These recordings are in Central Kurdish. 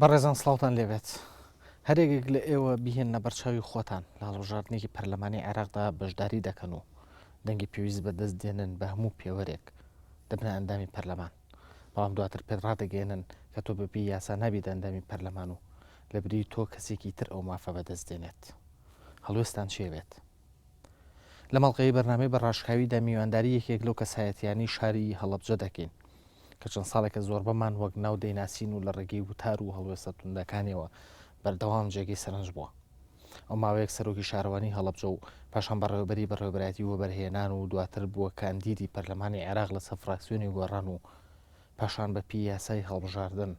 بەڕێزان سڵاوتان لێبێت. هەرێکێک لە ئێوە بیهێننە بەرچاوی خۆتان لە هەڵبژاردنێکی پەرلەمانی عێراقدا بەشداری دەکەن و دەنگی پێویست بەدەست دێنن بە هەموو پێوەرێک دەبنە ئەندامی پەرلەمان بەڵام دواتر پێت ڕادەگەیەنن کە تۆ بەپێی یاسا نابیت ئەندامی پەرلەمان و لەبری تۆ کەسێکی تر ئەو مافە بەدەست دێنێت هەڵوێستان چێ بێت؟ لەم هەڵقەی بەرنامەی بە ڕاشکاویدا میوانداری یەکێک لەو کەسایەتیانی شاری هەڵەبجە دەکەین کە چەند ساڵێکە زۆربەمان وەک ناو دەیناسین و لە ڕێگەی وتار و هەڵوێستە توندەکانیەوە بەردەوام جێگەی سەرنج بووە ئەو ماوەیەک سەرۆکی شارەوانی هەڵەبجە و پاشان بەڕێوبەری بەڕێوبەتی وەبەرهێنان و دواتر بووە کاندیدی پەرلەمانی عێراق لەسەر فراکسیۆنی گۆڕان و پاشان بە پی یاسای هەڵبژاردن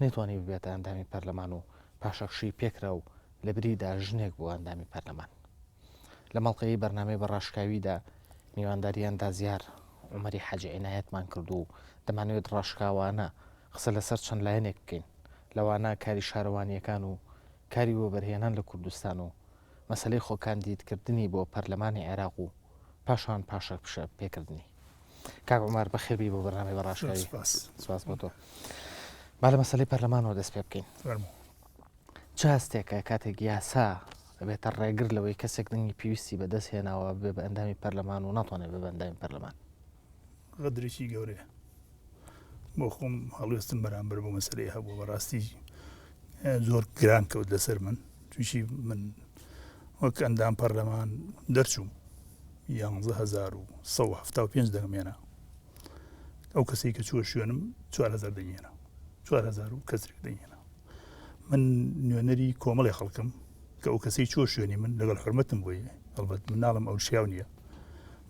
نەیتوانی ببێتە ئەندامی پەرلەمان و پاشەکشەی پێکرا و لە بریدا ژنێک بووە ئەندامی پەرلەمان لە مەڵقەی بەرنمەی بەڕاشکاویدا میوانداریان دازیار عمەری حەجی عینایەتمان کرد و دەمانوێت ڕاشکاوانە قسە لەسەر چەند لایەنێک بکەین لەوانە کاری شارەوانیەکان و کاری وەبەرهێنان لە کوردستان و مەسەلەی خۆکاندیدکردنی بۆ پەرلەمانی عێراق و پاشان پاشەکپشە پێکردنی. کاک عومەر بەخێبی بۆ بەرنامەی بەڕاشکاوی سپاس بۆ تۆ با لە مەسلەی پەرلەمانەوە دەست پێ بکەین چ هەستێکە کاتێک یاسا بێتە ڕێگر لەوەی کەسێک دەنگی پێویستی بەدەست هێناوە بێ بە ئەندامی پەرلەمان و ناتوانێت بە بەندامی پەرلەمان غەدرێکی گەورەیە بۆ خۆم هەڵوێستم بەرامبەر بۆ مەسەرەی هەبوو بەڕاستی زۆر گران کەوت لەسەر من تویشی من وەک ئەندام پەرلەمان دەرچوو یاهزار و سە پێ دەمێنە ئەو کەسی کە چوە شوێنم چوار هزار دەێنە چوار هزار و کەسێک دەێنە من نوێنەری کۆمەڵی خەڵکم کە ئەو کەسی چۆ شوێنی من لەگەڵ حرمەتم بۆی هەڵبەت مناڵم ئەو شیاو نییە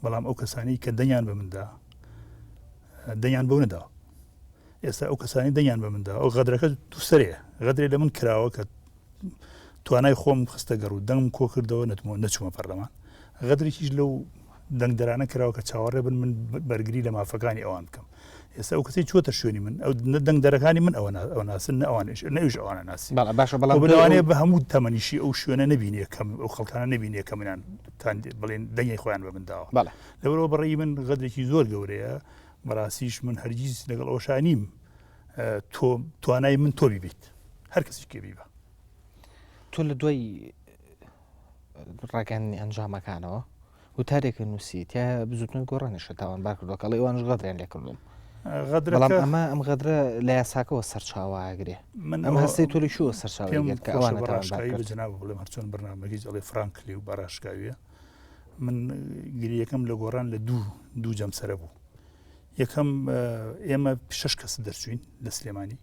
بەڵام ئەو کەسانی کە دەنگیان بە مندا دەنگیان بۆ نەدا ئێستا ئەو کەسانی دەنگیان بە مندا ئەو غەدرەکە دووسەرێ غەدرێ لە من کراوە کە توانای خۆم خستە گەڕ و دەنگم کۆ کردەوە نەتمەوە نەچوومە پەرلەمان غەدرێکیش لەو دەنگدەرانە کراوە کە چاوەڕێ بن من بەرگری لە مافەکانی ئەوان بکەم ئێستا ئەو کەسی چۆتە شوێنی من ئەو نە دەنگدەرەکانی من ئەوە ئەو ناسن نەوانش نەویش ئەوانە ناسی باشە بەڵام بەوانەیە بە هەموو تەمەنیشی ئەو شوێنە نبینێ کەم ئەو خەڵکانە نبینێ کە منیان تان بڵێن دەنگی خۆیان بە منداوە لەبەرەوە بەڕی من غەدرێکی زۆر گەورەیە بەڕاستیش من هەرگیز لەگەڵ ئەوشانیم تۆ توانای من تۆ بیبیت هەر کەسی کێبی بە تۆ لە دوای ڕاگەیاندنی ئەنجامەکانەوە وتارێکە نووسی تیا بزوتنەوەی گۆڕانیشە تاوانبار کردو کەڵی ئەوانش غەدریان لێ کردوم غەدرەڵام ئەمە ئەم غەدرە لە یاساکەەوە سەرچاواگرێ من ئەم هەستی توری شووە سەرچاوانەتاوانبارکردناو بڵێم هەرچۆن بەنامەگەی ئەڵێ فرانکلی و باراشکاویە من گریەکەم لە گۆڕان لە دوو دوو جەمسەرە بوو یەکەم ئێمە شش کەس دەرچوین لە سلێمانی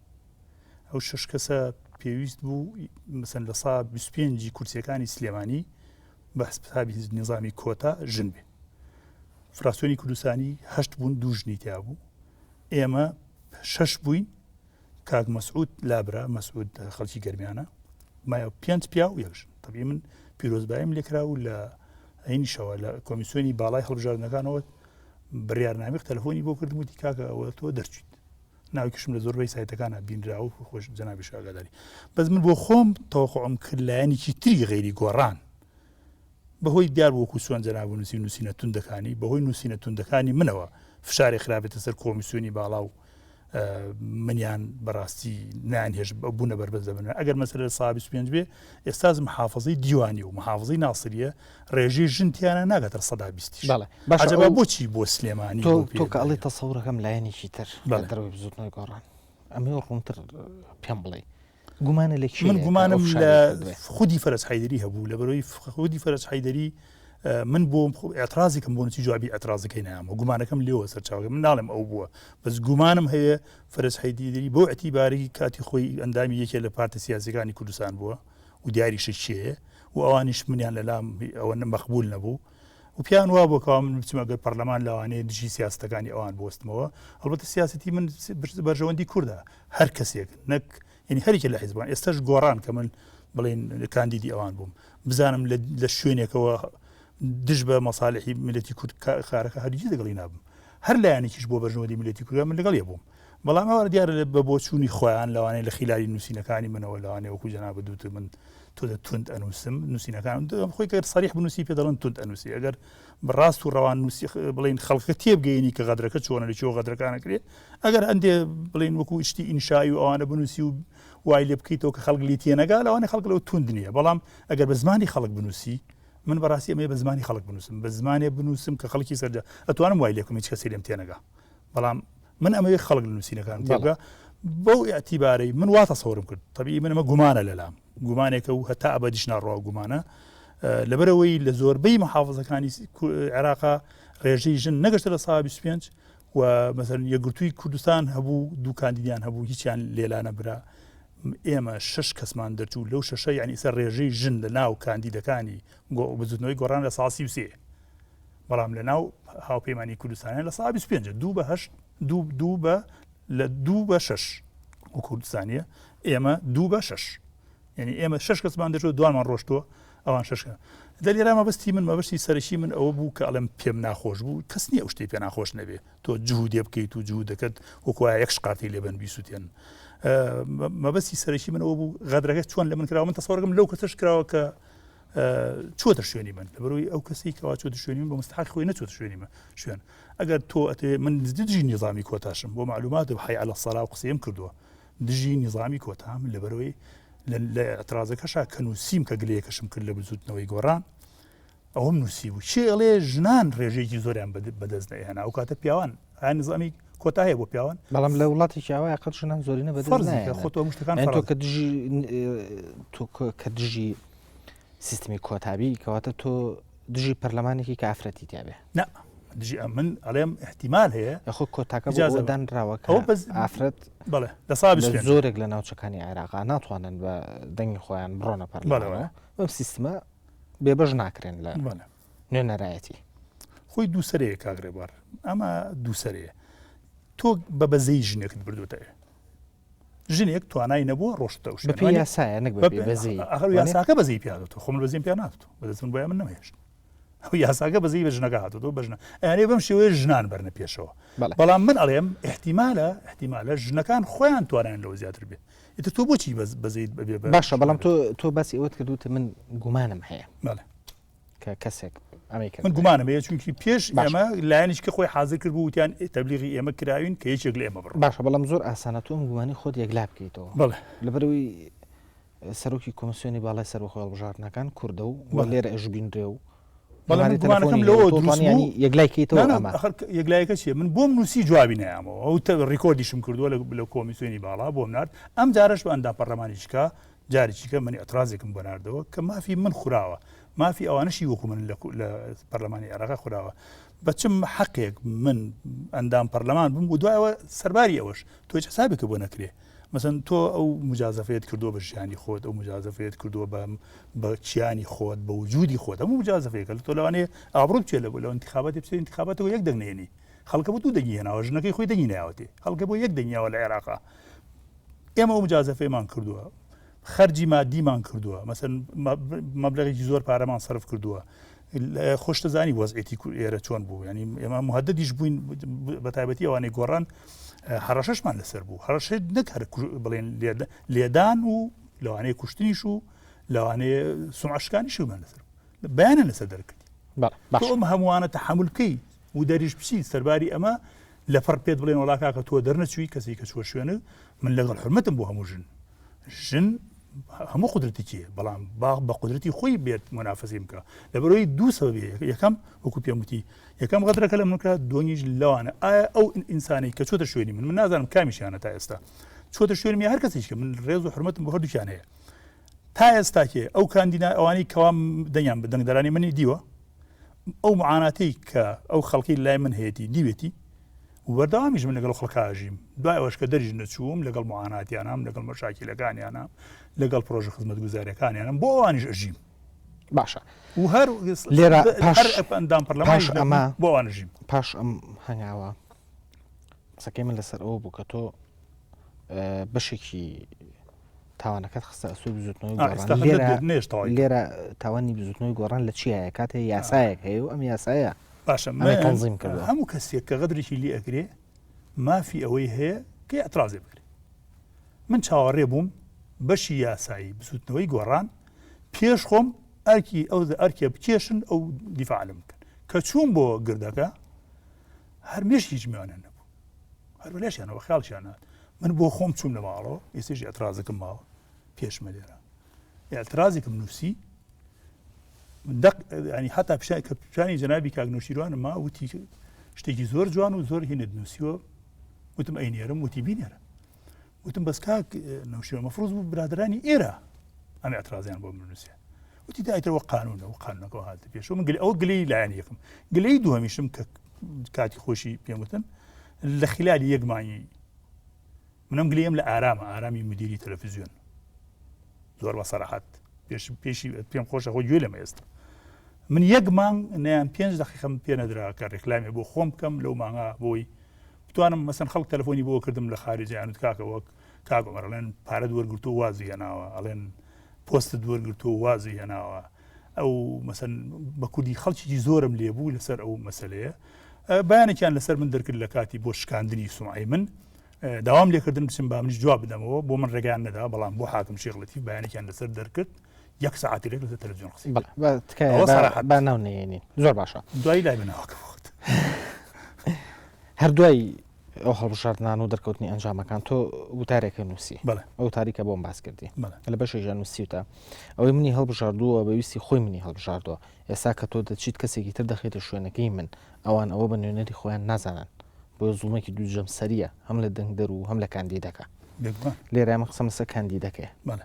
ئەو شەش کەسە پێویست بوو مەسەن لە سا بیست پێنجی کورسیەکانی سلێمانی بە حسابی هیچ نظامی کۆتا ژن بێ فراسیۆنی کوردستانی هەشت بوون دوو ژنی تیا بوو ئێمە شەش بووین کاک مەسعود لابرا مەسعود خەڵکی گەرمیانە مایە پێنج پیا و یەکژن طبی من پیرۆزبایم لێکرا و لە ئەینیشەوە لە کۆمیسیۆنی باڵای هەڵبژاردنەکانەوە بڕارنامی تەلفۆنی بۆ کردم و دیکاکە ئەوە تۆ دەرچیت ناوکیشم لە زۆربەی سایتەکانا بینرا و خۆش جەنابیش ئاگاداری بەس من بۆ خۆم تەوەقعم کرد لایەنێکی تری غەیری گۆڕان بەهۆی دیار وەکو سوێن جەناب و نووسی نووسینە توندەکانی بەهۆی نووسینە توندەکانی منەوە فشاری خراپێتە سەر کۆمیسیۆنی باڵا و منیان بەڕاستی نان هێش بوونە بەربەز دەبن ئەگەر مەسەر لە سابی سوێنج بێ ئێستاز محافظی دیوانی و محافظی ناسریە ڕێژەی ژن تیانە ناگاتە سەدا بیستیش بەڵێ باشە عەجەبا ئەو- بۆچی بۆ سلێمانی تۆ بۆ پێ تۆ کە ئەڵی دایە؟ تەسەورەکەم لایەنێکی تر لە بەڵێ. دەروی بزوتنەوەی گۆڕان ئەمە ڕوونتر پێم بڵێ گومانە لە کێ من گومانم لە خودی فەرز حیدری هەبوو لە بەرەوەی خودی فەرز حیدری اه، من بۆ ئەترازێکم بۆ نچی جوابی ئەترازەکەی نامە گومانەکەم لێوە سەرچاوگە من ناڵێم ئەو بووە بەس گومانم هەیە فەرز حیدری بۆ ئەتیباری کاتی خۆی ئەندامی یەکێ لە پارتە سیاسەکانی کوردستان بووە و دیاریشە کێیە و ئەوانیش منیان لەلام ئەوە مەقبول نەبوو و پێیان وا بۆ کەوا من بچمە گەر پەرلەمان لەوانەیە دژی سیاستەکانی ئەوان بستمەوە ئەڵبەتە سیاستی من بەرژەوەندی کووردا هەر کەسێک نەک یعنی هەرێکی لە حیزبان ئێستش گۆڕان کە من بڵین کاندیدی ئەوان بووم بزانم لە شوێنێکەوە دژ بە مەساالحی ملەتی کورد کارەکە هەرگی دەگەڵی نابم هەر لایەنێکیش بۆ بەژنەوەی ملەتی کورد من لەگەڵ بووم بەڵام ئەوان دیارە لە بە بۆچوونی خۆیان لەوانەیە لە خیلالی نووسینەکانی منەوە لەوانێ وەکو جەنابت دوت من تۆ دە توند ئەنووسم نووسینەکان خۆی کە سەریح بنووسی پێ دەڵن توند ئەنووسی ئەگەر بەڕاست و ڕەوان نووسی بڵین خەڵکە تێبگەینی کە غەدرەکە چۆنە لە چۆ غەدرەکانەکرێ ئەگەر هەندێ بڵین وەکو شتی ئینشایی و ئەوانە بنووسی و وای لێ بکەیتەوە کە خەڵک لی تێنەگا لەوانێ خەڵک لەو توند نییە بەڵام ئەگەر بە زمانی خەڵک بنووسی من بەڕاستی ئەمێ بە زمانی خەڵک بنووسم بە زمانێ بنووسم کە خەڵکی سەرجە ئەتوانم وای لێکم هیچ کەسی لێم تێنەگا بەڵام من ئەمەوێ خەڵک لە نووسینەکان تێبگا بەو ئەتیبارەی من وا تەسەورم کرد تەبی من ئەمە گومانە لەلام گومانێکە و هەتا ئەبدیش ناڕوا گومانە لەبەرەوەی لە زۆربەی محافظەکانی عێراقا ڕێژەی ژن نەگەشتە لە سا 25 و مەسەر یەگرتووی کوردستان هەبوو دوو کاندیدیان هەبوو هیچیان لێلانە برا ئێمە شش کەسمان دەرچوو لەو شەشە یعنی سەر ڕێژەی ژن لە ناو کاندیدەکانی بزنەوەی گۆڕان لە ساسی وسێ بەڵام لە ناو هاوپەیمانانی کوردستانە لە سا 25 دوو بە هەشت دوو بە لە دوو بە شش و کوردستانیە ئێمە دوو بە شش یعنی ئێمە شش کەسمان دەچۆ دوانمان ڕۆشتووە ئەوان ششکە دە لێرا مەبستی من مەبستی سەرشی من ئەوە بوو کە ئەڵم پێم ناخۆش بوو کەس نیە ئەو شتی پێ ناخۆش نەبێ تۆ جوودێ بکەیت و جوو دەکەت وکوای یەک شقاتی لێبن بیسووتێن مەبستی سەرشی من ئەوە بوو غەدرەکە چۆن لە من کراوە من تەسەڕگم لەو کەسش کراوە کە چۆتە شوێنی من لە بەرەوەی ئەو کەسی کەوا چۆتە شوێنی من بە مستحق خۆی نەچۆتە شوێنی من شوێن ئەگەر تۆ ئەتێ من دژی نیظامی کۆتاشم بۆ معلومات و حی على سەرا و قسەم کردووە دژی نیظامی کۆتام لە بەرەوەی لە اعترازەکەشا کە نووسیم کە گلەیەکەشم کرد لە بزوتنەوەی گۆڕان ئەوم نووسی بوو چێڵێ ژنان ڕێژێکی زۆریان بەدەست نەهێنا ئەو کاتە پیاوان ئایا نظامی کۆتا هەیە بۆ پیاوان بەڵام لە وڵاتێکی ئەوە قەت ژنان زۆرینە بە خۆتۆشتەکان کە دژی کە دژی سیستمی کۆتابی کەواتە تۆ دژی پەرلەمانێکی کافرەتی تابێ نە دژی ئەمن ئەڵێم احتیمال هەیە خۆ کۆتاکە جازدان راوەکەەوە بەس ئافرەت بڵێ لە سا زۆرێک لە ناوچەکانی عێراقا ناتوانن بە دەنگی خۆیان بڕۆنە پەرلەوە بەم سیستمە بێبەش ناکرێن لە مەە نوێنەرایەتی. خۆی دووسەرەیە کاک ڕێبوار، ئەمە دووسەرەیە. تۆ بە بەزەی ژنێکت بردوێتەوێ. ژنێک توانای نەبووە ڕۆشتە و شپی یاسایە نەک بەزی ئەخر یاساکە بەزی پیاات و خۆم بەزیم پێ نات بەدەستم بۆ من نەمێشت ئەو یاساکە بەزی بە ژنەکە هاتەوە بەژنە ئەێ بەم شێوەیە ژنان بەرنە پێشەوە بەڵام من ئەڵێم احتیمالە احتیمالە ژنەکان خۆیان توانیان لەوە زیاتر بێ ئیتر تۆ بۆچی بەزیت بەێ باشە بەڵام تۆ تۆ باسی ئەوەت کردوتە من گومانم هەیە کەسێک من گومانم هەیە چونکی پێش ئەمە لایەنیش کە خۆی حاضر کرد بووتیان تەبلیغی ئێمە کراوین کە یەکێک لە ئێمە بڕ باشە بەڵام زۆر ئاسانە تۆم گومانی خۆت یەکلا بکەیتەوە بڵێ لەبەروی سەرۆکی کۆمسیۆنی باڵای سەر بەخۆڵ بژارنەکان کووردە و لێرە ئەش بینرێ و بەڵامگومانەکەم لەوە دروستنیانی یەکلایکەیتەوە یەکلایەکە چیە من بۆم نووسی جوابی نیامەوە ئەو تە ڕیکۆردیشم کردووە لە کۆمیسیۆنی باڵا بۆم نرد ئەم جارش بە ئەندا پەرلەمانیشکە جارێکیکە من ئەترازێکم بۆ نردەوە کە مافی من خوراوە مافی ئەوانشی وەکو من لە پەرلەمانی عێراق خوراوە بەچم حەقێک من ئەندام پەرلەمان بم و دوایەوە سەرباری ئەوەش تۆ حسابێکە بۆ نەکرێ مەسن تۆ ئەو مجازەفەیەت کردووە بە ژیانی خۆت ئەو مجازەفەیەت کردووە بەم بە کیانی خۆت بە وجودی خۆت هەموو مجازەفەیەکە لە تۆ لەوانەیە ئابڕوت چێ لە بۆ لە انتخابات بچێ انتخاباتەوە یەک دەنگێنی خەڵکە بۆ دوو دەنگی هێناوە ژنەکەی خۆی دەنگی ناوەێ خەڵکە بۆ یەک دەنگیاوە لە عێراقا ئێمە ئەو مجازەفەیەمان کردووە خەرجی مادیمان کردووە مەسن مەبلغێکی زۆر پارەمان سرف کردووە خۆشتەزانی وەزعێتی ئێرە چۆن بوو ینی ئێمە مهددیش بووین بە تایبەتی ئەوانەی گۆڕان هەڕەشەشمان لەسەر بوو هەڕەشێت نەکار بڵێن لێدان و لەوانەیە کوشتنیش و لەوانەیە سمعشکانی شومان لەسەر بەیانە لەسەر دەرکردی ئەم هەمووانە تەحملکەی و دەریش بچیت سەرباری ئەمە لەپڕ پێت بڵێن وڵا کاکە تۆ دەرنەچووی کەسی کە چوە شوێنە من لەگەڵ حرمەتم بۆ هەموو ژن ژن هەموو قدرەتێکی بەڵام باغ بە قدرەتی خۆی بێت منافەزی بکە لە بەرەوەی دوو سەبێ یەکەم وەکو پێموتی یەکەم غەدرەکە لە منکە دۆنیش لەوانە ئایا ئەو ئینسانی کە چۆتە شوێنی من من نازانم کامیشیانە تا ئێستا چۆتە شوێنمی هەر کەسیش کە من ڕێز و حرمەتم بۆ هەردووکیان هەیە تا ئێستاکێ ئەو کاندینا ئەوانی کەوام دەنگیان بدەنگدرانی منی دیوە ئەو معاناتەی کە ئەو خەڵکی لای من هەیەی دیوێتی وەرداوامیش من لەگەڵ خەڵکاژیم دوای ئەوش کە دەریش نەچووم لەگەڵ معاناتیانام لەگەڵ مەشاکیلەکانیانە لەگەڵ پرۆژە خزمەت گوزارەکانیانم بۆ ئەوانیش ئەژیم باشە و هەر لێرە پاشدام پەرلەماش ئەمە بۆ ئەوانژیم پاش ئەم هەنگاوە قسەکەی من لەسەر ئەوە بوو کە تۆ بەشێکی تاوانەکەت خستە ئەستۆی بزوتنەوەی گۆڕان لێرە تاوانی بزوتنەوەی گۆڕان لە چیایە کاتێ یاسایەک هەیە و ئەم یاسایە باشە تەنزیم کرد هەموو کەسێک کە غەدرێکی لێ ئەگرێ مافی ئەوەی هەیە کە ئەترازێ بکرێت من چاوەڕێ بووم بەشی یاسایی بزوتنەوەی گۆڕان پێش خۆم ئەرکی ئەو ئەرکێ بکێشن ئەو دیفاعلم بکەن کە چوون بۆ گردەکە هەرمێش هیچ میوانە نەبوو هەرو لەشیانەوە خیاڵشیان نات من بۆ خۆم چوم لە ماڵەوە ئێستش ئەترازەکەم ماوە پێشمە لێرە ئەترازێکم نووسی ینی حتا پیشای کە پیشانی جەنابی کاگنۆشیروانە ما وتی شتێکی زۆر جوان و زۆر هینت نووسیوە وتم ئەینێرم وتی بینێرە وتم بەس کاک نەوشێ مەفرۆز بوو برادرانی ئێرە ئەم اعترازیان بۆ منوسێ وتی دایتەوە قانونە و قانونەکە هاات پێش من گل ئەو گلی لایەن یەکم گلی دوهمیشم کە کاتی خۆشی پێموتن لە خلالی یەکمانی منم گلیم لە ئارامە ئارامی مدیری تەلەفزیۆن زۆر بە سەراحەت پێش پێشی پێم خۆشە خۆ گوێ لەمە ئێستا من یەک مانگ نیان پێنج دقیقم پێ نەدراکە ڕێکلامی بۆ خۆم بکەم لەو ماغا بۆی بتوانم مەسەن خەڵک تەلفۆنی بۆ کردم لە خارجی یانوت کاکە وەک کاک عمر ئەڵێن پارەت وەرگرتو وازی هێناوە ئەڵێن پۆستت وەرگرتو وازی هێناوە ئەو مەسەن بە کوردی خەڵکی زۆرم لێبوو لەسەر ئەو مەسلەیە بەیانێکیان لەسەر من دەرکرد لە کاتی بۆ شکاندنی سومعی من داوام لێکردن بچم با منیش جواب بدەمەوە بۆ من ڕێگەیان نەدا بەڵام بۆ حاکم شێخڵەتی بەیانێکیان لەسەر دەرکرد یەک ساعتی لێک لە تەلەڤزیۆن قسەی بەڵێ، بە تکایە ئەوە بە- سەراحەت. با ناونێنین زۆر باشە دوایی لای بناوەکە بخۆت هەر دوای ئەو هەڵبژاردنان و دەرکەوتنی ئەنجامەکان تۆ وتارێکە نووسی بەڵێ ئەو تاریکە بۆم باس کردی بەڵێ لە بەشی ژەنوسیوتە ئەوەی منی هەڵبژاردووە بەویستی خۆی منی هەڵبژاردووە ئێستا کە تۆ دەچیت کەسێکی تر دەخێتە شوێنەکەی من ئەوان ئەوە بە نوێنەری خۆیان نازانن بۆ زوڵمێکی دوو جەمسەریە هەم لە دەنگدەر و هەم لە کاندیدەکە بێگومان لێرە من قسەم لەسەر کاندیدەکەیە بەڵێ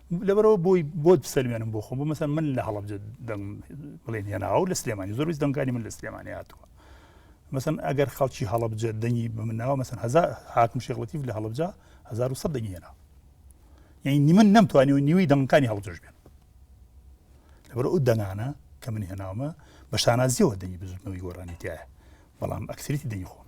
لەبەرەوە بۆی بۆت بسەلمێنم بۆ خۆم بۆ مەسەن من لە هەڵبجە دەنگ بڵێن هێناوە لە سلێمانی زۆربیست دەنگانی من لە سلێمانی هاتووە مەسن ئەگەر خەڵکی هەڵبجە دەنگی بمناوە مەسن هزار حاکم شێخڵەتی لە هەڵبجە 1970 دەنگی هێنا یعنی نیمن نەمتوانی و نیوی دەنگەکانی هەڵبجەش بێن لەبەر ئەو دەنگانە کە من هێناومە بە شانازیەوە دەنگی بزوتنەوەی گۆرانیتیایە بەڵام ئەکسریتی دەنگی خۆم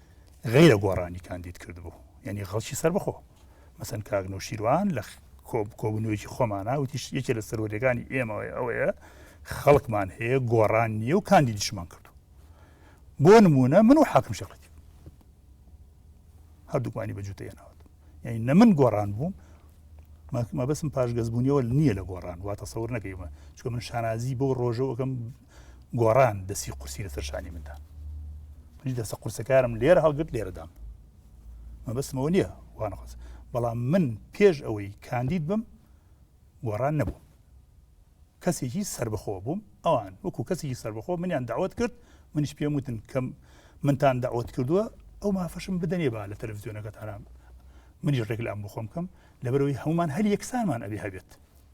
غیرە گۆڕانی کاندید کردبوو یعنی خەڵکی سەربخۆ مەسەن کاک نوشیروان لە کۆبکۆبنەوەیکی خۆمانە وتیش یەکێ لە سەرۆریەکانی ئێمەوەی ئەوەیە خەڵکمان هەیە گۆڕان نیە و کاندیدیشمان کردو بۆ نمونە من و حاکم شەقەتی هەردووکمانی بە جوتە هێناوە یعنی نە من گۆڕان بووم مەبەسم پاشگەزبوونیەوە نییە لە گۆڕان واتە سەور نەکەیمە چکە من شانازی بۆ ڕۆژەوەکەم گۆڕان دەسی قورسی لەسەر شانی مندا منی دەسە قورسەکارم لێرە هەڵگرت لێرەدام مەبەستمەوە نییە وانەخواز بەڵام من پێش ئەوەی کاندید بم گۆڕان نەبوو کەسێکی سربەخۆ بووم ئەوان وەکو کەسێکی سربەخۆ منیان داوت کرد منیش پێم وتن کەم منتان داوت کردووە ئەو مافەشم بدەنێ با لە تەلەڤزیۆنەکەتانام منیش ڕێک لە ئەم بخۆم کەم لەبەرەوەی هەمومان هەر یەکسانمان ئەبێ هەبێت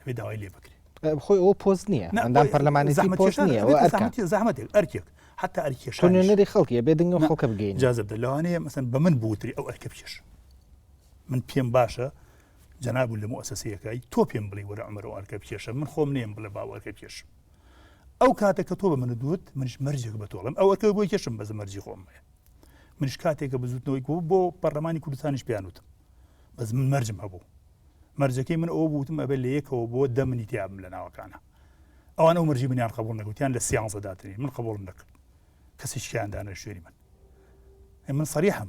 ئەبێ داوای لێ بکرێت خۆی ئەو پۆست نییە ئەندام پەرلەمانی پۆست نیە زەحمەتێک ئەرکێک حتا ئەرکێشێنەری خەڵکی بێ دنگ خەڵکە بگەین جازب لەوانەیە مەسن بە من بوتری ئەو ئەرکە بکێش من پێم باشە جەناب لە مؤسسەیەکەی تۆ پێم بڵی وەرە ئەمەرە ئەرکە بکێشە من خۆم نێم بڵێ باوەرکە بکێش ئەو کاتە کە تۆ بە من دوت منش مەرجێک بە تۆڵم ئەو ئەرکە بۆی کێشم بەزە مەرجی خۆم هەیە منش کاتێکە بزوتنەوەی بۆ پەرلەمانی کوردستانیش پیانوتم بەس من مەرجم هەبوو مەرجەکەی من ئەو بوتم ئەبێ لە یەکەوە بۆ دە منی تیابم لە ناوەکانە ئەوان ئەو مەرجی منیان قبول نەگوتیان لە سیانزە داتنی من قبولم نەکرد کەسی شکیان دانە شوێنی من من سەریحم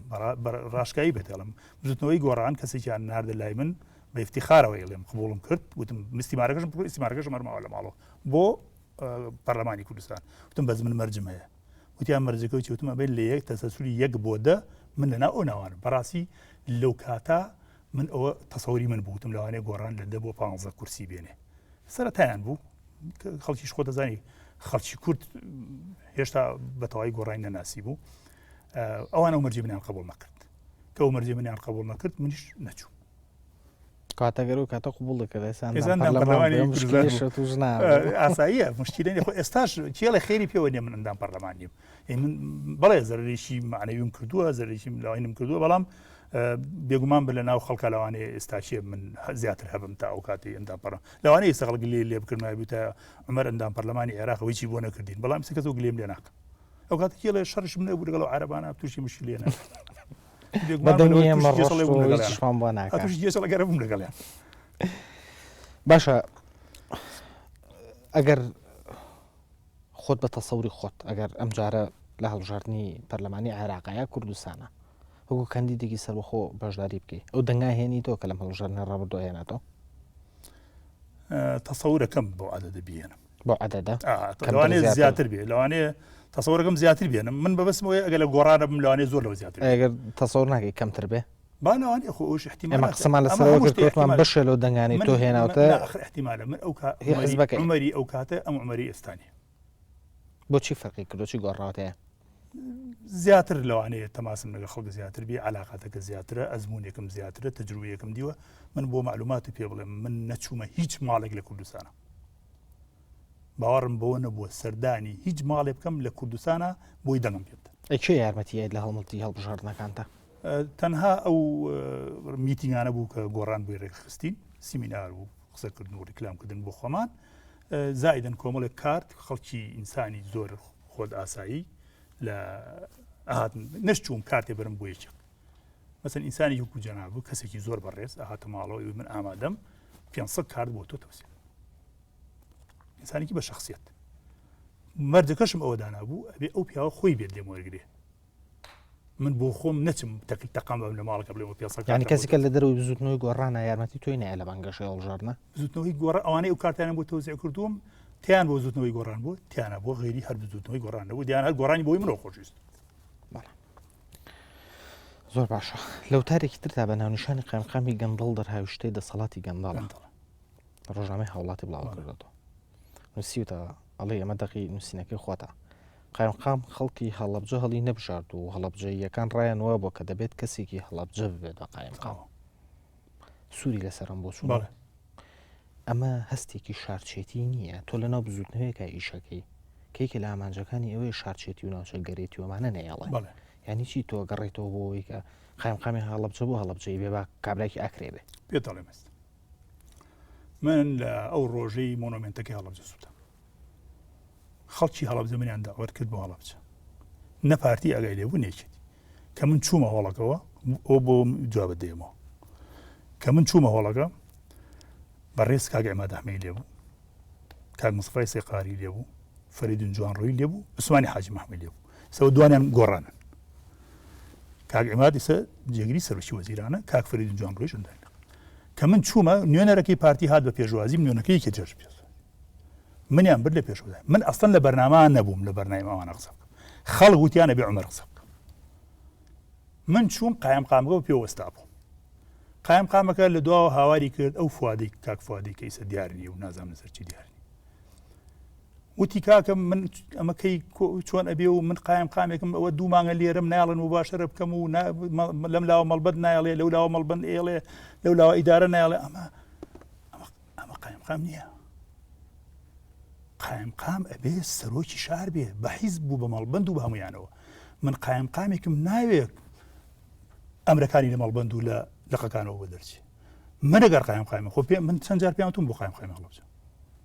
ڕاشکایی بێتێڵم بزوتنەوەی گۆڕان کەسێکیان ناردە لای من بە افتخارەوە ئێڵێم قبولم کرد وتم مستیمارەکەشم بکو ئیسمارەکەشم هەرماوە لە ماڵەوە بۆ پەرلەمانی کوردستان وتم بەز من مەرجم هەیە وتیان مەرجەکە و چوتمە بێت لە یەک تەسەسوری یەک بۆ دە من لەنا ئەو ناوان بەڕاستی لەو کاتە من ئەوە تەسەوری من بوتم لەوانێ گۆڕان لە دە بۆ پانزە کورسی بێنێ سەرەتایان بوو خەڵکیش خۆ دەزانی خەڵکی کورد هێشتا بەتەوای گۆڕای نەناسی بوو ئەوان ئەو مەرجی منیان قبول نەکرد کە ئەو مەرجی منیان قبول نەکرد منیش نەچوو کاتەگەر و کاتە قوبڵ ئاساییە مشکلێنی خۆ ئێستاش کێڵە خێری پێوە نێ من ئەندام پەرلەمانیم بەڵێ زەرریشی معنەویم کردووە زەرریشی لاینم کردووە بەڵام بێگومان بە لە ناو خەڵکە لەوانەیە ئێستاچێ من زیاتر هەبم تا ئەو کاتی ئەندام پەڕ لەوانە ئێستا خەڵک لێ لێ بکردن بووتە عمر ئەندام پەرلەمانی عێراقەوەی چی بۆ نەکردین بەڵام سکەس و گلێم لێ ناکەم ئەو کات کێڵێ شەرش منە بوو لەگەڵ عربانە تووشی مشی لێنە بەگەرەبووم لەگەڵیان باشە ئەگەر خۆت بە تەسەوری خۆت ئەگەر ئەم جارە لە هەڵبژاردنی پەرلەمانی عێراقە یا کوردستانە وەکو کەندیدێکی سەربەخۆ بەشداری بکەیت ئەو دەنگای هێنی تۆ کە لەم هەڵبژاردنە ڕابردوو هێناتەوە تەسەورەکەم بۆ عادە دەبیێنم بۆ عادەدا لەوانێ زیاتر بێ لەوانەیە تەسەورەکەم زیاتر بێنم من بەبستمەوەی ئەگە لە گۆڕانە بم لەوانێ زۆر لەوە زیاتر ئەگەر تەسەور ناگەی کەمتر بێ بانەوان ئێخۆ ئەوش احتیمالە ئێمە قسەمان لەسەرەوە کرد کەوتمان بەشێ لەو دەنگانی تۆ هێناوتە احتیمالە من ئەو حزبەکە عمەری ئەو کاتە ئەم عمەری ئێستانی بۆچی فەرقی کردۆچی گۆڕاوتەیە زیاتر لەوانەیە تەماسم لەگە خەڵک زیاتر بێ علااقاتەکە زیاترە ئەزمونونێکم زیاترە تەجروویەکم دیوە من بۆ معلوماتی پێ بڵێم من نەچوومە هیچ ماڵێک لە کوردستانە باوەڕم بەوە نەبووە سەردانی هیچ ماڵێ بکەم لە کوردستانە بۆی دەنگم پێ بدەن ئەکێ یارمەتیت لە هەڵمەتی هەڵبژاردنەکانتە تەنها ئەو میتنگانە بوو کە گۆڕان بووی ڕێکخستین سیمینار و قسەکردن و ڕیکلامکردن بۆ خۆمان زایدن کۆمەڵێک کارت خەڵکی ئینسانی زۆر خۆت ئاسایی لە ئاهاتن نەشتوم کارتێ برم بۆ یەکێک مەسن ئینسانی یوکو جەناب و کەسێکی زۆر بەڕێز ئاهاتە ماڵەوەی من ئامادەم 500 کارت بۆ تۆ تەوسێ ئینسانێکی بە شخصیت مەرجەکەشم ئەوە دانابوو ئەبێ ئەو پیاوە خۆی بێت لێم وەرگێ من بۆ خۆم نەچم تەکل تەقام لە ماڵەکە بڵێ پێ یعنی کەسیکە لە دەرەوەی بزوتنەوەی گۆڕانە یارمەتی توی نایە لە بەنگەشە هەڵژارنە بزوتنەوەی گۆڕە ئەوانەی و کارتیانە بۆ تۆزیع کردووم تیان بۆ زوتنەوەی گۆڕان بۆ تیانە بۆ غێری هەر بزوتنەوەی گۆڕانە بۆ دیان هەر گۆڕانی بۆی منەوە خۆشیست زۆر باشە لەو تارێکی تردا بە ناونیشانی قامقامی گەندڵ دەرهاویشتەی دەسەڵاتی گەنداڵ ڕۆژنامەی هاوڵاتی بڵاوکردەوە نووسیوتەوە، ئەڵێی ئەمە دەقی نووسینەکەی خۆتە. قایمقام خەڵکی هەڵەبجە هەڵی نەبژارد و هەڵەبجەییەکان ڕایان وابووە کە دەبێت کەسێکی هەڵەبجە ببێت بە قایمقام. سووری لەسەرم بۆ چوو. ئەمە هەستێکی شارچێتی نییە تۆ لە ناو بزوتنەوەیەکە ئیشەکەی کەیکە لە ئامانجەکانی ئەوەیە شارچێتی و ناوچە گەرێتی ومانە نەیەڵێ ینی چی تۆ گەڕێتەوە بۆەوەی کە قایمقامی هەڵبجە بۆ هەڵبجەی بێ با کابراکی ئاکرێ بێ پێ دەڵێ مەست من لە ئەو ڕۆژەی مۆنۆمنتەکەی هەڵبجە سووتم خەڵکی هەڵبجە منیان داوەت کرد بۆ هەڵبچە نە پارتی ئەگای لێبوو نێکێتی کە من چوومە هۆڵەکەەوە ئەو بۆ جواب دێمەوە کە من چوومە هۆڵەکە بە ڕێز کاگە ئەمە دەحمەی لێبوو کاک مسڕی سێقاری لێبوو فەریدون جوان ڕووی لێبوو عوسمانی حاجی مححمە لێبوو سەوە دوانیان گۆڕانن کاک ئەمادیسە جێگری سەرۆکی وەزیرانە کاک فەریدون جوان ڕۆژندای کە من چوومە نوێنەرەکەی پارتی هات بە پێشوازیم نوێنەکە یەکێ جێژ بێت منیان بر لە پێشوازای من ئەستن لە بەرناما نەبووم لە بەرنای ئەوانە قسە بکەم خەڵک وتیانە بێ عمر قسە بکەم من چوون قایم قامگە و پێوەستا بوو قایم قامەکە لە دواوە هاواری کرد ئەو فوادی تاک فوادی کەیسە دیارنی و نازانم سەرچی دیارنی وتی کاکە من ئەمە کەی چۆن ئەبێ و من قایم قامێکم ئەوە دوو مانگە لێرم ناڵن و باشەرە بکەم و لەم لاوە مەڵبەت نایڵێ لەو لاوە مەڵبند ئێڵێ لەو لاوە ئیدارە نایڵێ ئەمە ئەمە قایم قام نییە قایم قام ئەبێ سەرۆکی شار بێ بە حیز بوو بە مەڵبند و بە هەمویانەوە من قایم قامێکم ناوێت ئەمرەکانی لە مەڵبند و لە لەقەکانەوە بە دەرچی منەگەر قایم قایم خۆ پێ من چەند جار پێیان تون بۆ قایم قایم هەڵبچە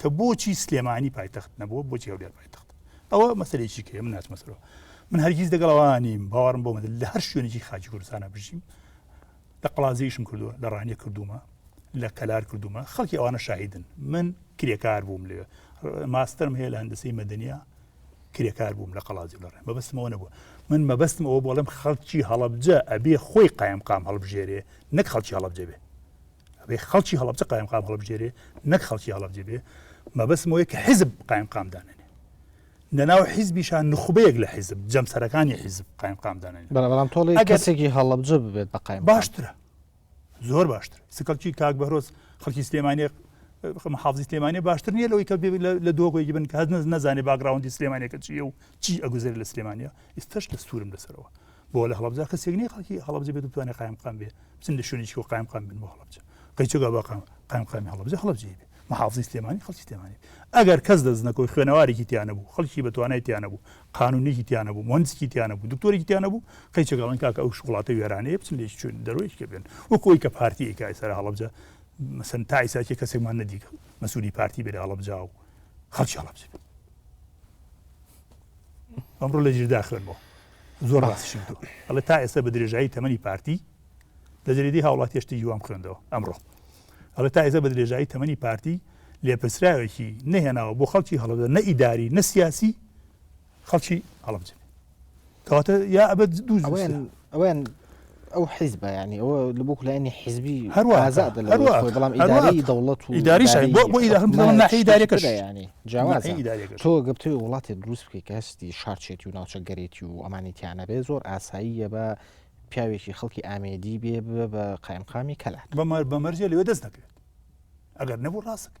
کە بۆچی سلێمانی پایتەخت نەبووە بۆچی هەولێر پایتەخت ئەوە مەسلێکی کە من ناچمەسەرەوە من هەرگیز دەگەڵوانیم باوەڕم بۆ مەدل لە هەر شوێنێکی خاچی کوردستانە بژیم لە قڵازیشم کردووە لە ڕانیە کردومە لە کەلار کردومە خەڵکی ئەوانە شاهیدن من کرێکار بووم لێ ماسترم هەیە لە هەندسی مەدەنیا کرێکار بووم لە قەڵازی لە ڕێ مەبستمەوە نەبووە من مەبستم ئەوە بۆڵم خەڵکی هەڵبجە ئەبێ خۆی قایمقام هەڵبژێرێ نەک خەڵکی هەڵبجە بێ ئەبێ خەڵکی هەڵەبجە قایمقام هەڵبژێرێ نەک خەڵکی هەڵەبجە بێ مەبەستم وەیە کە حیزب قایمقام دانێنێ لە ناو حیزبیشان نخبەیەک لە حیزب جەمسەرەکانی حیزب قایمقام دانێن بەڵام تۆڵی کەسێکی هەڵەبجە ببێت بە قایم باشترە زۆر باشتر سکەڵکی کاک بەرۆز خەڵکی سلێمانە حافزی سلێمانە باشتر نیە لەوەی کە لە دۆگۆی بن کە هەز نەزانێ باگراوندی سلێمانەکە چیە و چی ئەگوزێر لە سلێمانە ئیستش دەستورم لەسەرەوە بۆ لە هەڵەبجە کەسێک نیە خەڵکی هەڵەبجە بێت بتوانێت قایمقام بێ بچن لە شوێنێکی و قایمقام بن بۆ هەڵەبجە قەیچگا باقام قایمقامی هەڵەبجە هەڵەبجێ بێ محافزی سلێمانی خەڵکی سلێمانی ئەگەر کەس دەست نەکەوت خوێنەوارێکی تیانە بوو خەڵکی بە توانای تیانە بوو قانونێکی تیانە بوو مهندسکی تیانە بوو دکتۆرێکی تیانە بوو قەیچگەڵن کاکە ئەو شوڵاتە وێرانەیە بچن لێ چون دەرۆیش کە بێن وەکۆی کە پارتی کای سەر هەڵەبجە مەسن تا ئیساکی کەسێکمان نەدیگە مەسووری پارتی بێ هەڵەبجا و خەڵکی هەڵەبجێ ئەمڕۆ لە جیردا خوێنەوە زۆر ڕاستیشی وتووە ئەڵێ تا ئێستا بە درێژایی تەمەنی پارتی لە زریدەی هاوڵاتیش تیی وام خوێندەوە ئەمڕۆ ئەڵێ تا ئێزە بە درێژایی تەمەنی پارتی لێپرسراوێکی نەهێناوە بۆ خەڵکی هەڵبدە نە ئیداری نە سیاسی خەڵکی هەڵبجن کەواتە یا ئەبەت دوو ئەویان ئەو حیزبە یعنی ئەوە لە بۆ لایەنی حیزبی هەروەڵامی دەوڵەت و داریش ینی تۆ گەپتێ وڵاتی دروست بکەی کە هەستی شارچێتی و ناوچە گەرێتی و ئەمانیتیانە بێ زۆر ئاساییە بە پیاوێکی خەڵکی ئامێدی بێ بە قایمقامی کەلات بەمەر بەمەرجێ لەوێ دەست دەکرێت ئەگەر نەبوو ڕاستەکە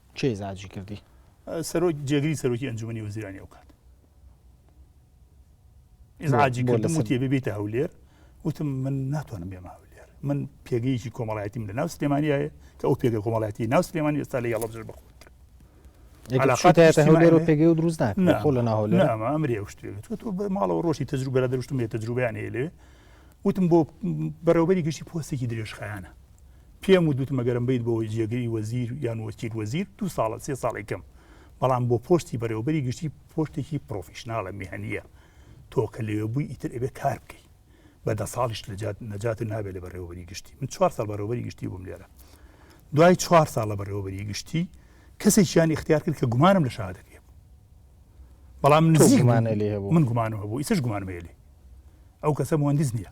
کێی زاجی کردی؟ سەرۆک جێگری سەرۆکی ئەنجومی وەزیرانی ئەو کات ئزاجی کردم وتێ ببێتە هەولێر وتم من ناتوانم بێمە هەولێر من پێگەیەکی کۆمەڵایەتیم لە ناو سلێمانیایە کە ئەو پێگە کۆمەڵایەتی ناو سلێمانی ئێستا لە یاڵە بژر بخۆن هەولێر و پێگەی و دروست ناخۆ لە ناهۆلێر ئەمە ئەمری ئەو شتێ تۆ بە ماڵەوە ڕۆشی تەجروبە دەروشتم لێ تەجروبیان هەیە لێ وتم بۆ بەرەوبەری گشتی پۆستێکی درێژخایانە پێم وتوتم ئەگەرم بیت بۆ جێگری وەزیر یان وەکیل وەزیر دو ساڵە سێ ساڵی کەم بەڵام بۆ پۆستی بەرێوەبەری گشتی پۆستێکی پرۆفیشناڵە میهنیە تۆ کە لەوێ بووی ئیتر ئەبێ کار بکەی بە دە ساڵیش لەجات نەجات نابێت لە بەڕێوەبەری گشتی من چوار ساڵ بەڕێوەبەری گشتی بووم لێرە دوای چوار ساڵ لە بەڕێوەبەری گشتی کەسێکیان اختیار کرد کە گومانم لە شادەکە هەبوو بەڵام نزیکمانە لێ هەبوو من گومانم هەبوو ئیسش گومانمێلی ئەو کەسە مهندس نییە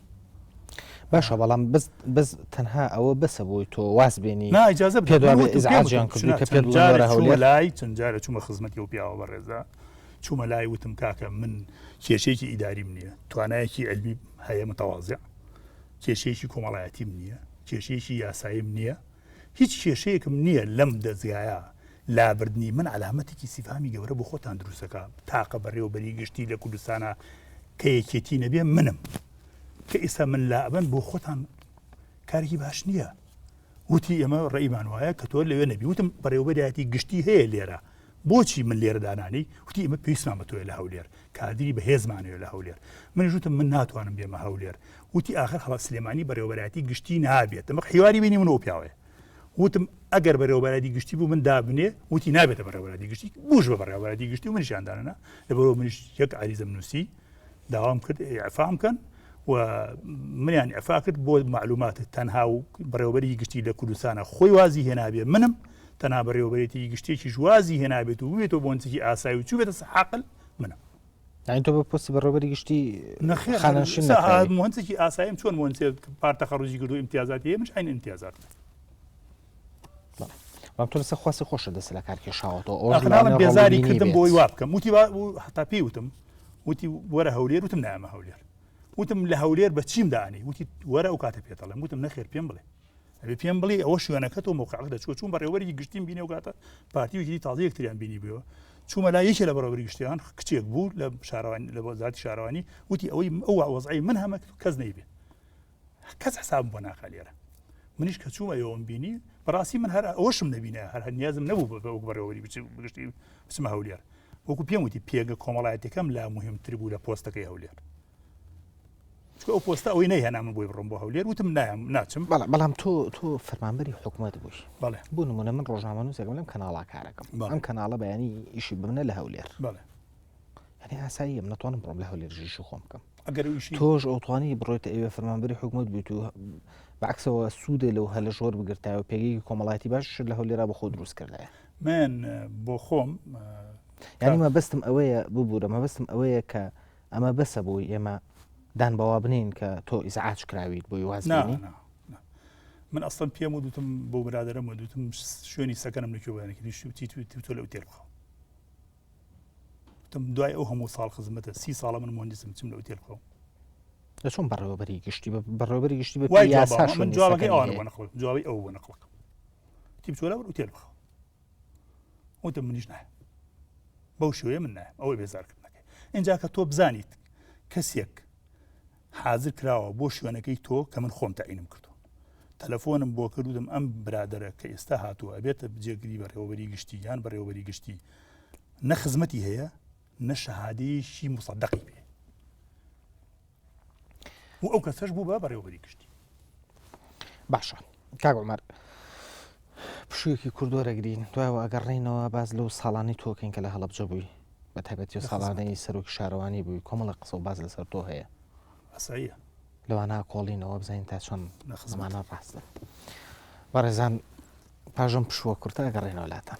باشە بەڵام بەس تەنها ئەوە بەسە بۆی تۆ واز بێنی ناجازە پێدوازیان کردی کە پێ لای چەند جارە چوومە خزمەتی و پیاوە بە ڕێزە چوومە لای وتم کاکە من کێشێکی ئیداریم نییە توانایەکی ئەلبی هەیە متەوازە کێشەیەکی کۆمەڵایەتیم نییە کێشەیەکی یاساییم نییە هیچ کێشەیەکم نییە لەم دەزگایە لابردنی من عەلامەتێکی سیفهامی گەورە بۆ خۆتان دروست دەکا تاقە بەڕێوەبەری گشتی لە کوردستانە کە یەکێتی نەبێ منم کە ئیسا من لا ئەبن بۆ خۆتان کارێکی باش نییە وتی ئێمە ڕێیمان وایە کە تۆ لەوێ نەبی وتم بەڕێوەبەرایەتی گشتی هەیە لێرە بۆچی من لێرە دانانی وتی ئمە پێویستمان بە تۆە لە هەولێر کادری بەهێزمانەوە لە هەولێر من ژوتم من ناتوانم بێمە هەولێر وتی ئاخر هەڵە سلێمانی بەڕێوەبەراتی گشتی نابێت دەمە حیواری بینی منەوە پیاوێ وتم ئەگەر بەرەوەبەرادی گشتی بوو من دابنێ وتی نابێتە بەڕێوەبەرادی گشتی بوش بە بەڕێوەبەرادی گشتی و منشاندانە لەبەرەوە منش یەک عریزم نووسی داوام کرد ئەفام بکەن و منیان ئەفا کرد بۆ معلوماتە تەنها و بەڕێوەبەری گشتی لە کوردستانە خۆی وازی هێنابێ منم تەنها بەڕێوەبەرێتی گشتێکی ژوازی هێنابێت و بێتەوە بۆنجێکی ئاسایی و چوبێتە سەحاقل منم یعنی تۆ بە پۆستی بەڕێوەبەری گشتی نەخێر خانەنشین سا- نەکراوی. ئا- مهندسێکی ئاساییم چۆن مهندسێک پار تەخەڕوجی کردو امتیازات هەیە منش عین امتیازات بەڵام تۆ لەسەر خواستی خۆشە دەست لە کار کێشاوەتەوە ئەوەش ئەخناڵم لەوانەیە بێزاری ڕەڵبینی کردم بێت. بۆی وا بکەم وتی وا- و حتا پێی وتم وتی وەرە هەولێر وتم نامە هەولێر وتم لە هەولێر بە چیم دانی وتی وەرە ئەو کاتە پێتەڵم وتم نەخێر پێم بڵێ ئەبێ پێم بڵێ ئەوە شوێنەکەت و مۆقعەکە دەچوە چون بەڕێوەری گشتیم بینێ و کاتە پارتی ویکری تازە یەکتریان بینی بووە چوومە لا یەکێ لە بەڕێوەری گشتیان کچێک بوو لە شارەوان لە وەزارتی شارەوانی وتی ئەوەی ئەو وەزعی من هەمە کەس نەیبێ کەس حساب بۆ ناکا لێرە منیش کە چوومە ئەوم بینی بەڕاستی من هەر ئەوشم نبینە هەر هەنیازم نەبوو بە بەوک بەڕێوەری بگشتی بچمە هەولێر وەکو پێم وتی پێگە کۆمەڵایەتەکەم لا مهمتر بوو لە پۆستەکەی هەولێر چکە ئەو پۆستە ئەوەی نەیهێنا من بۆی بڕم بۆ هەولێر وتم نایم ناچم بەڵام بەڵام تۆ تۆ فەرمانبەری حکوومەت بووی بەڵێ بوو نمونە من ڕۆژنامەنووسێکم لەم کەناڵا کارەکەم ئەم کەناڵە بەیانی ئیشی بمنە لە هەولێر بەڵێ هەنێ ئاساییەم ناتوانم بڕۆم لە هەولێر ژیش و خۆم بکەم ئەگەر تۆش ئەوتوانی بڕۆیت ئەوێ فەرمانبەری حکوومەت بوویت و بەعکسەوە سوودێ لەو هەلە ژۆر بگرتایەوە پێگەی کۆمەڵاتی باش لە هەولێرا بە خۆ دروست کردایە من بۆ خۆم یانیمە بەستم ئەوەیە ببوورە مەبستم ئەوەیە کە ئەمە بەسە بۆی ئێمە دان بەوا بنێین کە تۆ ئیزعاج کراویت بۆی واز نا بێنی نا نا. من ئەسڵم پێم ودوتم بۆ برادرم و دوتم شوێنی سەکەنم لە کوێوانێکی دیشتی و تیت و تیتۆ لەو تێر بخەوە وتم دوای ئەو هەموو ساڵ خزمەتە سی ساڵە من مهندسم چم لەو تێر بخەوم لە چۆن بەڕێوەبەری گشتی بە بەڕێوەبەری گشتی بە وای پێی جواب یاسا بەخۆم، من شوێنی جوابەکەی سەکەنی ئەوانە بۆ هەیە. نەخڵم جوابی ئەو بۆ نەخڵەکەم تیب چۆلا بەر ئوتێل بخەوە وتم منیش نایە بەو شوێ من نایە ئەوەی بێزارکردنەکەی اینجا کە تۆ بزانیت کەسێک حاضر کراوە بۆ شوێنەکەی تۆ کە من خۆم تاینم کردو تەلەفۆنم بۆ کردودم ئەم برادرە کە ئێستا هاتووە ئەبێتە بجێگری بەڕێوەبەری گشتی یان بەڕێوەبەری گشتی نە خزمەتی هەیە نە شەهادەیەکی مسەدەقی پێ و ئەو کەسەش بوو بە بەڕێوەبەری گشتی باشە کاک عمر پشوویەکی کوردۆ دەگرین دوایەوە ئەگەڕێینەوە باز لەو ساڵانی تۆکەین کە لە هەڵبجە بووی بە تایبەتی ساڵانەی سەرۆکی شارەوانی بووی کۆمەڵە قسە و باز لەسەر تۆ هەیە ئەسایە لەوانە کۆڵینەوە بزانین تا چۆن لە خزمانە ڕاستە بەڕێزان پاش ئەم پشووە کورتە ئەگەڕێنەوە لاتان.